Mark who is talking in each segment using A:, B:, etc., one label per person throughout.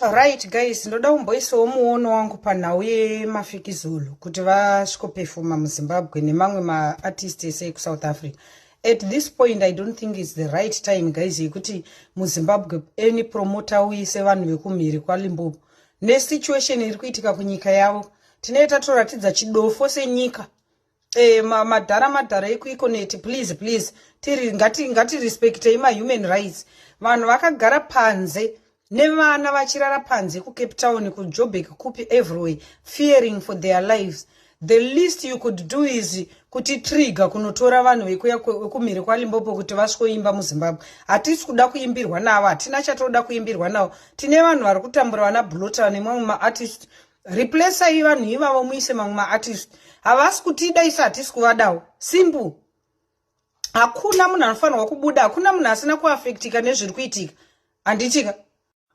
A: Right guys, ndoda kumboisawo muono wangu panhau yemafikizolo kuti vasvikopefoma muzimbabwe nemamwe maartist ese ekusouth africa at this point i don't think its the right time guys yekuti muzimbabwe any promota uise vanhu vekumhiri kwalimbobo nesituation iri kuitika kunyika yavo tinee tatoratidza chidofo senyika Eh, ma, madhara madhara ikuiko neti please please tiri ngati ngati respectei ma human rights vanhu vakagara panze nevana vachirara panze kucape town kujobek kupi everywhere fearing for their lives the least you could do is kuti trigger kunotora vanhu vekuya kumhiri kwalimbopo kuti vasvikoimba muzimbabwe hatisi kuda kuimbirwa navo hatina chatoda kuimbirwa navo tine vanhu vari kutambura vana blota nemamwe maartist replaceai vanhu ivavo muise mamwe maartist havasi kutida isu hatisi kuvadawo simple hakuna munhu anofanirwa kubuda hakuna munhu asina kuafektika nezviri kuitika handitika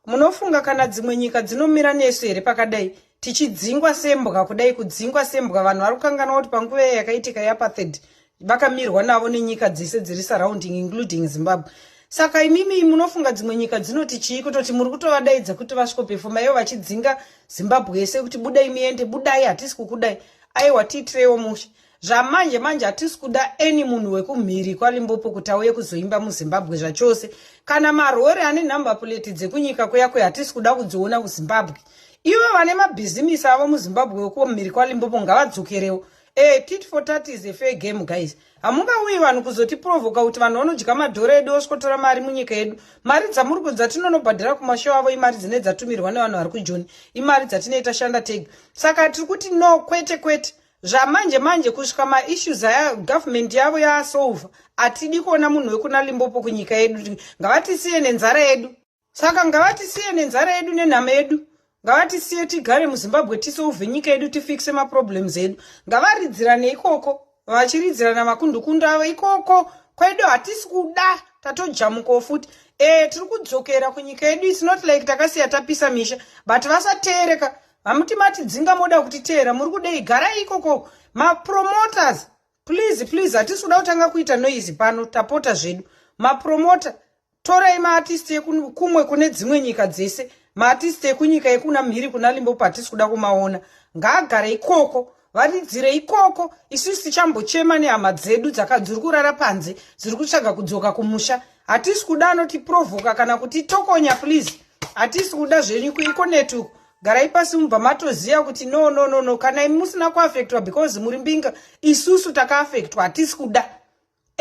A: munofunga kana dzimwe nyika dzinomira nesu here pakadai tichidzingwa sembwa kudai kudzingwa sembwa vanhu vari kukanganwa kuti panguva iya yakaitika yeapartheid vakamirwa navo nenyika dzese dziri surrounding including zimbabwe saka imimi munofunga dzimwe nyika dzinoti chii kutoti muri kutovadaidza kuti vasvikopefoma ivo vachidzinga zimbabwe yese kuti budai muende budai hatisi kukudai aiwa tiitireiwo mushe zvamanje manje hatisi kuda any munhu wekumhiri kwalimbopo kuti auye kuzoimba muzimbabwe zvachose kana marori ane number plate dzekunyika kuyakwe hatisi kuda kudziona kuzimbabwe ivo vane mabhizimisi avo muzimbabwe wekumhiri kwalimbopo ngavadzokerewo Eh, tit for tat is a fair game guys. Hamungauyi vanhu kuzotiprovoka kuti vanhu vanodya madhora edu osvotora mari munyika yedu. Mari dzamuri kunzi dzatinonobhadhara kumashow avo imari dzine dzatumirwa nevanhu vari kujoni. Imari dzatinei tashanda tega. Saka tiri kuti no kwete kwete. Zvamanje manje kusvika maissues aya government yavo yasolva. Atidi kuona munhu wekuna Limpopo kunyika yedu. Ngavatisiye nenzara yedu. saka ngavatisiye nenzara yedu nenhama yedu ngavatisiye tigare muzimbabwe tisolve nyika yedu tifixe maproblems edu ngavaridzirane ikoko vachiridzirana makundukunda avo ikoko kwedu hatisi kuda tatojamukawo futi e tiri kudzokera kunyika yedu its not like takasiya tapisa misha but vasateereka hamuti matidzinga moda kutiteera muri kudei garai ikoko mapromoters please please hatisi kuda kutanga kuita noise pano tapota zvedu mapromota torai maartist ekumwe kune dzimwe nyika dzese maartist ekunyika yekuna mhiri kuna limbopo hatisi kuda kumaona ngaagare ikoko varidzire ikoko isusu tichambochema nehama dzedu dzakadziri kurara panze dziri kutsvaga kudzoka kumusha hatisi kuda anotiprovoka kana kuti tokonya please hatisi kuda zvenyu kuiko netuku garai pasi mubva matoziva kuti no no no no kana imi musina kuafektwa because muri mbinga isusu takaafektwa hatisi kuda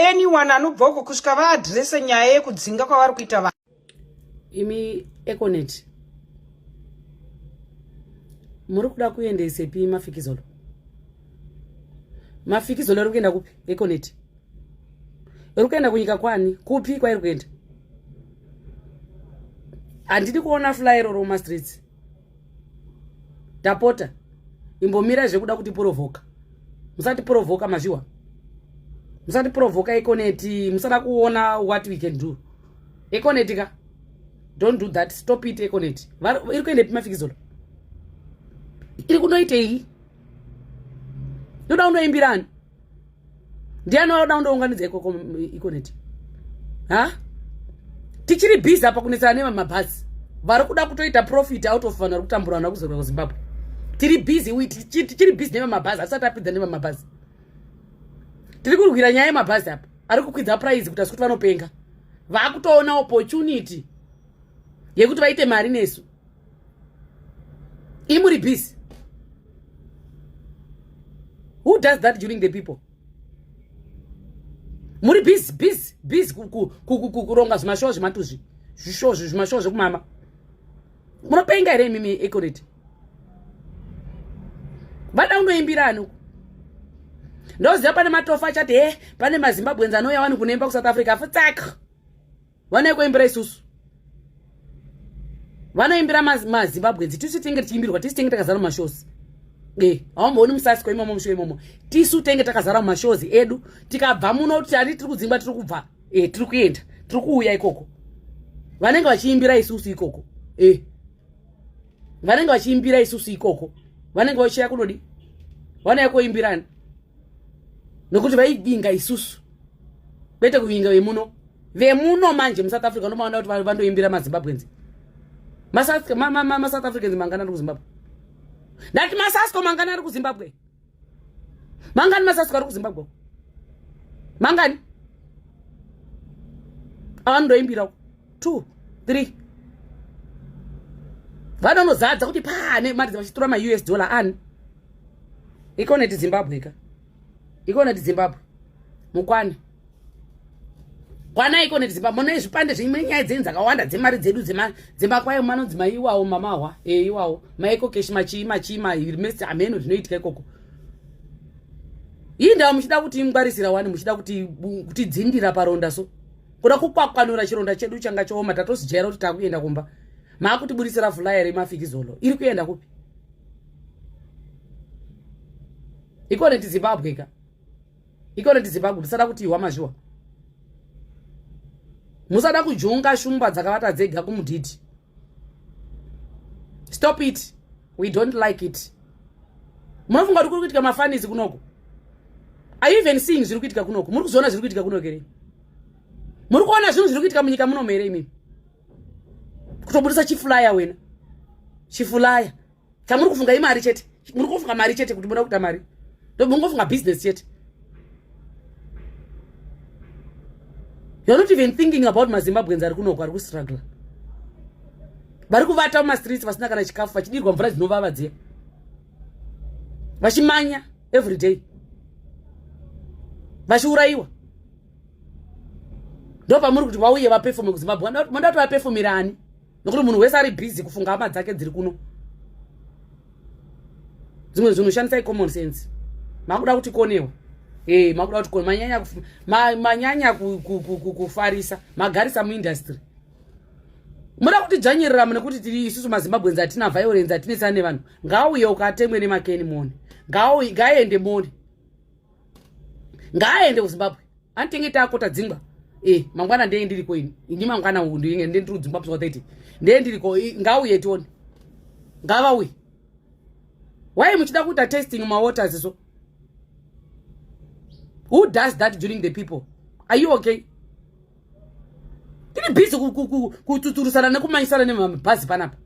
A: anyone anobva uko kusvika vaadrese nyaya yekudzinga kwavari kuita vanhu imi
B: econet muri kuda kuendesepi mafikizolo mafikizolo iri kuenda kupi econet iri kuenda kunyika kwani kupi kwairi kuenda handidi kuona fly roro mumastreets tapota imbomirai zvekuda kuti porovoka musati porovoka mazviwa musati porovoka ekoneti musada kuona what we can do ekoneti ka don't do that stop it ekoneti iri kuenda epi mafikizolo iri kunoitei ndoda unoimbirani ndiani waoda undounganidza ikoko ikoneti ha tichiri busy apa kunetsana nevamabhazi vari kuda kutoita profit out of vanhu vari kutambura vanhu vakuzorwa kuzimbabwe tiri busy tichiri busy nevamabhazi hatisati apidza nevamabhazi tiri kurwira nyaya yemabhazi apa ari kukwidza prize kuti asi kuti vanopenga vakutoona opportunity yekuti vaite mari nesu imuri busy who does that during the people muri busy busy busy kuronga zvimashowo zvematuzvi zvishowo zvimashowo zvekumama munopenga here imimi econet vada unoimbira ani uku ndoziva pane matofa achati he eh, pane mazimbabwenzi anouya wani kunoimba kusouth africa futsaka vanoiko imbira isusu vanoimbira mazimbabwe nzi tisu tenge tichiimbirwa tisu tenge takazara mumashozi e haumbooni musasi ko imomo musho imomo tisu tenge takazara mumashozi edu tikabva muno kuti tari tiri kudzingwa tiri kubva e tiri kuenda tiri kuuya ikoko vanenge vachiimbira isusu ikoko e vanenge vachiimbira isusu ikoko vanenge vachiya kunodi vanouya koimbirani nokuti vaivinga isusu kwete kuvinga vemuno vemuno manje musouth africa unomaona kuti vandoimbira mazimbabwens masouth africans mangani ari kuzimbabwe ndati masasco mangani ari kuzimbabwe mangani masasco ari kuzimbabwe mangani avandoimbirawo two three vanonozadza kuti pane mari dzavachitora maus dollar ani ikona ti zimbabwe ka ikona ti zimbabwe mukwane kwana ikona ti zimbabwe mona zvipande zvimwe nyaya dzenyu dzakawanda dzemari dzedu dzemakwayo manonzi maiwawo mamahwa e eh, iwawo maiko keshi machii machii mames hameno zvinoitika ikoko ii ndava muchida kuti ingwarisira wani muchida kuti dzindira paronda so kuda kukwakwanura chironda chedu changa chooma tatosijaira kuti takuenda kumba maakutiburitsira vhula here mafikizolo iri kuenda kupi ikone tizimbabwe ka ikone tizimbabwe musada kuti ihwa mazviwa musada kujonga shumba dzakavata dzega kumudhidhi stop it we don't like it munofunga kuti kuri kuitika mafanizi kunoko are you even seeing zviri kuitika kunoko muri kuzoona zviri kuitika kunoko here muri kuona zvinhu zviri kuitika munyika munomo here imimi kutobudisa chifulaya wena chifulaya chamuri kufunga imari chete muri kufunga mari chete kuti muda kuita mari ndobungofunga business chete you're not even thinking about mazimbabweans ari kunoko ari kustruggle vari kuvata mumastreets vasina kana chikafu vachidirwa mvura dzinovava dziya vachimanya every day vachiurayiwa ndo pamuri kuti vauye vapefome kuzimbabwe mandatovapefomerani nokuti munhu wese ari busy kufunga hama dzake dziri kuno dzimwe zvinhu shandisai common sense makuda kuti konewa e eh, makuda kuti kone manyanya manyanya kufarisa magarisa muindustry muda kuti dzvanyerera mune kuti tiri isusu mazimbabwens atina violence atinetsana nevanhu ngaauye ukatemwe nemakeni mone ngaaende mone ngaaende kuzimbabwe anditenge taakota dzingwa e eh, mangwana ndee ndiriko ini ini mangwana u ndinge nde ndiri kudzimbabwe zva thati ndee ndiriko ngauye tione ngavauye why muchida kuita testing mawaters so who does that during the people are you okay tiri busy kututurusana nekumanyisana nemabhazi panapa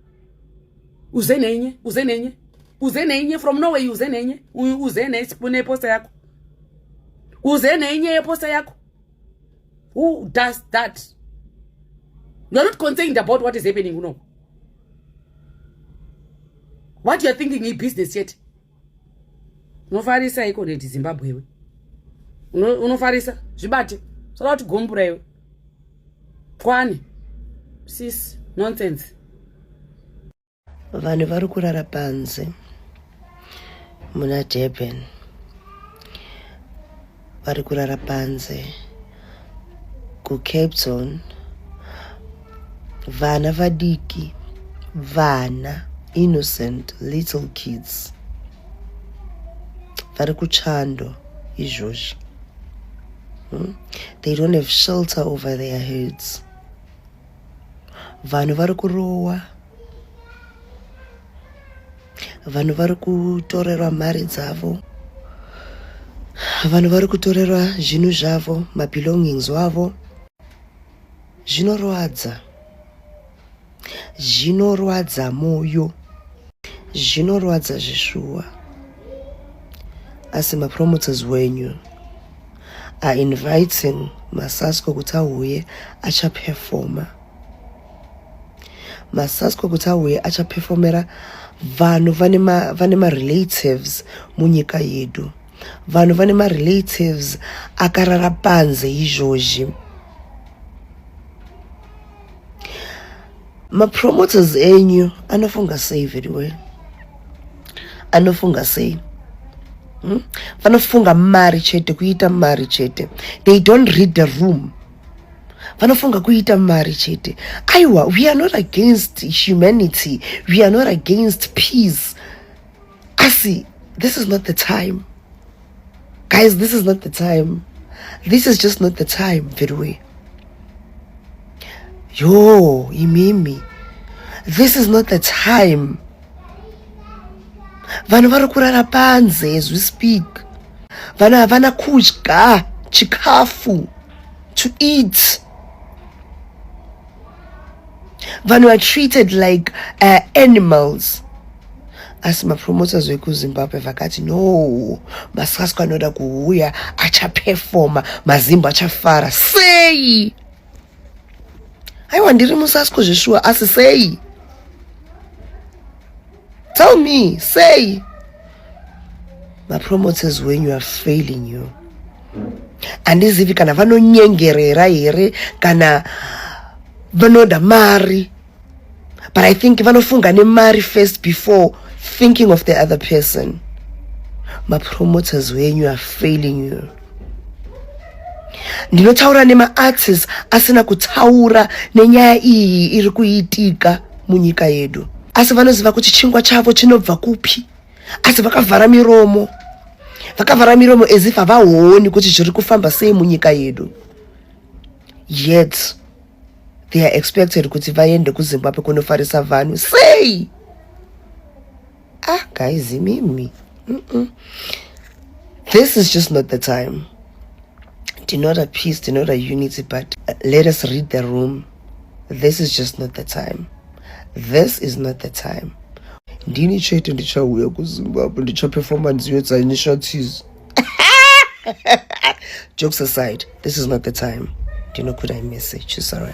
B: uze nenye uze nenye uze nenye from norway uze nenye uze neposta yako uze nenye yeposta yako who does that you are not concerned about what is happening unoku what you are thinking ibusiness yet unofarisa iko neti zimbabwe iwe unofarisa zvibate soda kuti gombura iwe kwani sis nonsense
C: vanhu vari kurara panze muna durban vari kurara panze kucape zone vana vadiki vana innocent little kids vari kuchando izvozvi hmm? they don't have shelter over their heads vanhu vari kurowa vanhu vari kutorerwa mari dzavo vanhu vari kutorerwa zvinhu zvavo mabelongings wavo zvinorwadza zvinorwadza moyo zvinorwadza zvishuwa asi mapromoters wenyu are inviting masasko kuti auye achaperfoma masasko kuti auye achapefomera vanhu vane marelatives munyika yedu vanhu vane marelatives akarara panze izvozvi mapromoters enyu anofunga sei veduwe anofunga sei hmm? vanofunga mari chete kuita mari chete they don't read the room vanofunga kuita mari chete aiwa we are not against humanity we are not against peace asi this is not the time guys this is not the time this is just not the time veduwe yo imimi this is not the time vanhu vari kurara panze as we speak vanhu havana kudya chikafu to eat vanhu are treated like uh, animals asi mapromoters vekuzimbabwe vakati no masasco anoda kuuya achapefoma mazimbo achafara sei aiwa ndiri musasko zveshuwa asi sei tell me sei mapromoters wenyu are failing you handizivi kana vanonyengerera here kana vanoda mari but i think vanofunga nemari first before thinking of the other person mapromoters wenyu are failing you ndinotaura nemaartists asina kutaura nenyaya iyi iri kuitika munyika yedu asi vanoziva kuti chingwa chavo chinobva kupi asi vakavhara miromo vakavhara miromo as if havaoni kuti zviri kufamba sei munyika yedu yet they are expected kuti vaende kuzimbabwe kunofarisa vanhu sei ah guys mimi mm -mm. this is just not the time ndinoda peace ndinoda unity but uh, let us read the room this is just not the time this is not the time ndini chete ndichauya kuzimbabwe ndichapefoma nziyo dzainishatis jokes aside this is not the time ndinokuda imessage sorry